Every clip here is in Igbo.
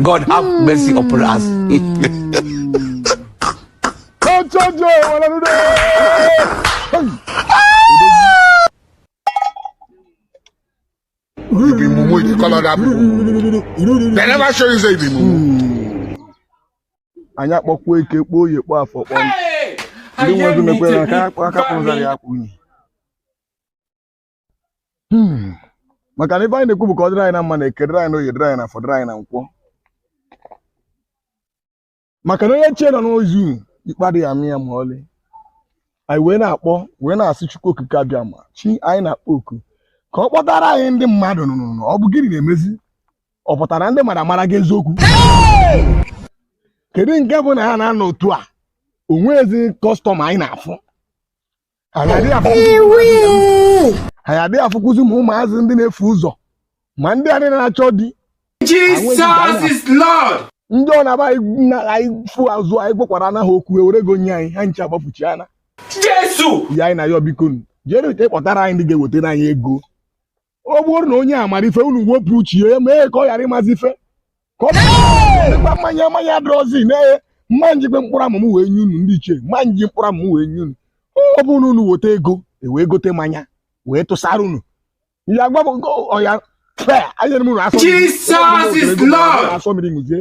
God have mercy upon us. Ọjọjọ wala n'udo. You be mumu, you dey call other people. They never show you say you be mumu. Anyị akpọkwa eke kpọọ oye kpọọ afọ kpọọ ndị nwe ezi mekwere aka akpụ aka kpọzara ya akpụ unyi Hmm. maka na ife anyị na-ekwu bụ ka ọ dịrị anyị na mma na eke dịrị anyị na oye dịrị anyị na afọ dịrị anyị na nkwọ maka na onye chi ya nọ n'izu ikpe adịghị ama ya ma ọlị anyị wee na-akpọ wee na-asị Chukwu okike abịama chi anyị na-akpọ oku ka ọ kpọtara anyị ndị mmadụ nụnụ na ọ bụ gịnị na-emezi ọ pụtara ndị mmadụ amaraghị eziokwu kedu nke bụ na ha na-anọ otu a onwezi kọstọma anyị na-afụ anyị adịghị afụ Iwii. anyị adịghị afụkwụzi ma ụmụazị ndị na-efu ụzọ ma ndị nwaanyị na-achọ di Jesus is Lord. ndị ọ na-aba anyị na anyị fụ azụ anyị gwakwara anaghị okwu ewere ego nye anyị ha ncha agbafuchaana Jesu. ya anyị na-ayọ bikonu jee ụka kpọtara anyị ndị ga-ewetara anyị ego ọ bụrụ na onye a mara ife unu wepụ uche ya mee ka ọ ghara ịmazi ife ka ọ dịkwa mmanya mmanya adịrọzi na m ma-ejikwa mkpụrụ amụ m wee nye unu ndị ichie m ma-eji mkpụrụ amụ m wee nye unu ọ bụrụ na unu weta ego ewee gote mmanya wee tụsara unu ya gwa ọya anyere m unu asọ Jesus is Lord asọ mmiri ṅụzie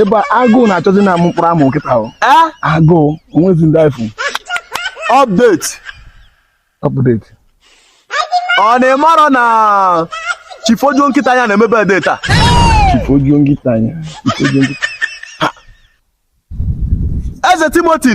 ebe agụụ na-achọzi na amụ mkpụrụ amụ nkịta ahụ Eh? agụụ onwezi ndị ifu Update. ọpụdeti Unu amarọ na chifu ojuo nkịta anya na-eme birthday taa. chifu ojuo nkịta anya chifu ojuo nkịta Eze Timothy.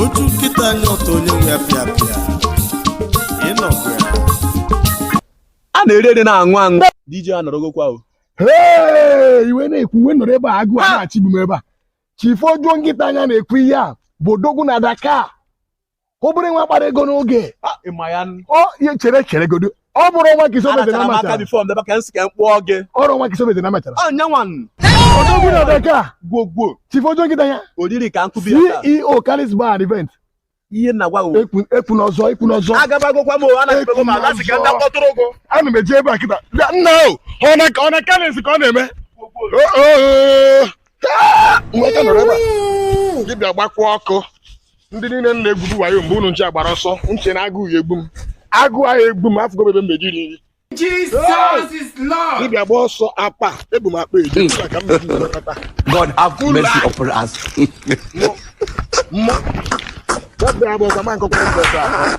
ojuo nkịta anya ọ taa onye nwe ya pịa pịa ị nọkwa ya a na-eri eri na-aṅụ aṅụ DJ anọrọgokwa o Hey, i wee na-ekwu m wee nọrọ ebe a agụụ a na-achọ igbu m ebe a chifu ojuo nkịta anya na-ekwu ihe a bụ odogwu na Dakar obere nwa kpara ego n'oge Ah, ịma ya n- ọ ihe chere cheregodo ọ bụrụ nwa gị sobeze na machara bifọ ndebe ka nsị ka m kpụọ gị ọrụ nwa gị sobeze na machara ọ nyanwa odogwu na Dakar gwogwo chifu ojuo nkịta anya oriri ka nkụbi ya CEO Kalis Bar and Event ihe na gwa ekwuna ọzọ ekwuna ọzọ agabagokwa m anabego m ala si ka ndị kpọtụrụ ụgwọ ana m eje ebe a kịta nna o ọ na Kalis ka ọ na-eme nweta nọrọ ebe a dibịa gbakwa ọkụ ndị niile m na-egwubu wayo mgbe unu ncha gbara ọsọ nche na agụụ ya egbu m agụụ ahụ egbu m afụgo ebe m na-eje iri nri Jesus is Lord. dibịa gba ọsọ apa ebu m akpa eji ebe a ka m na-eji were kọta God have Full mercy life. upon us. mmụọ mmụọ ọbịa bụ ọzọ ma nkọkwa ebe a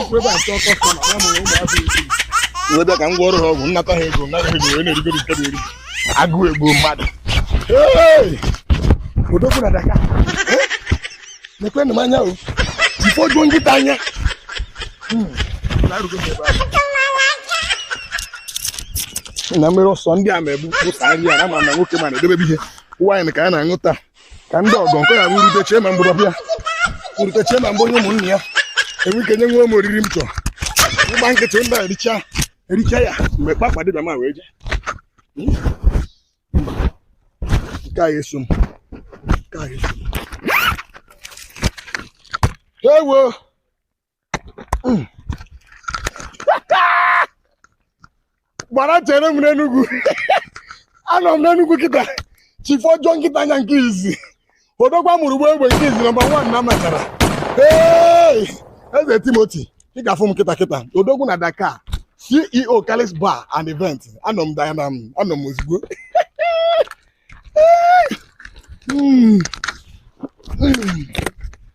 Ikwu ebe a nke ọkọ sọ na mụ ụmụazị isi. Wee bịa ka m gwọọrọ ha ọgwụ m nata ha ego m nata ha ego wee na-erigoro nke na-eri. Agụụ egbuo mmadụ. Hey! Odogwu na Dakar. Eh? Nekwenụ m anya o. Chief Ojuo nkịta anya. Hmm. Na-arụgo m ebe ahụ. na mmiri ọsọ ndị a na-egbu pụta nri a na ma na nwoke ma na-edebe ihe nwaanyị ka a na-aṅụ taa ka ndị ọgọ nke ya wurute chee ma mgbọrọ bịa wurute chee ma mgbe onye ụmụnne ya enwe ike nye nwe m oriri m chọrọ ịgba nkịtị ndị a ericha ya mgbe kpakpa dibịa ma wee jee nke a eso m nke a eso m ewo gbara chere m n'Enugwu anọ m n'Enugwu kịta Chief Ojuo nkịta anya nke izi odogwa mụrụ ụgbọ egbe nke izi nọmba wan na matara Eze Timothy ị ga-afụ m kịta kịta odogwu na Dakar CEO Kalis Bar and Event anọ m dana m anọ m ozugbo hmm. Hmm.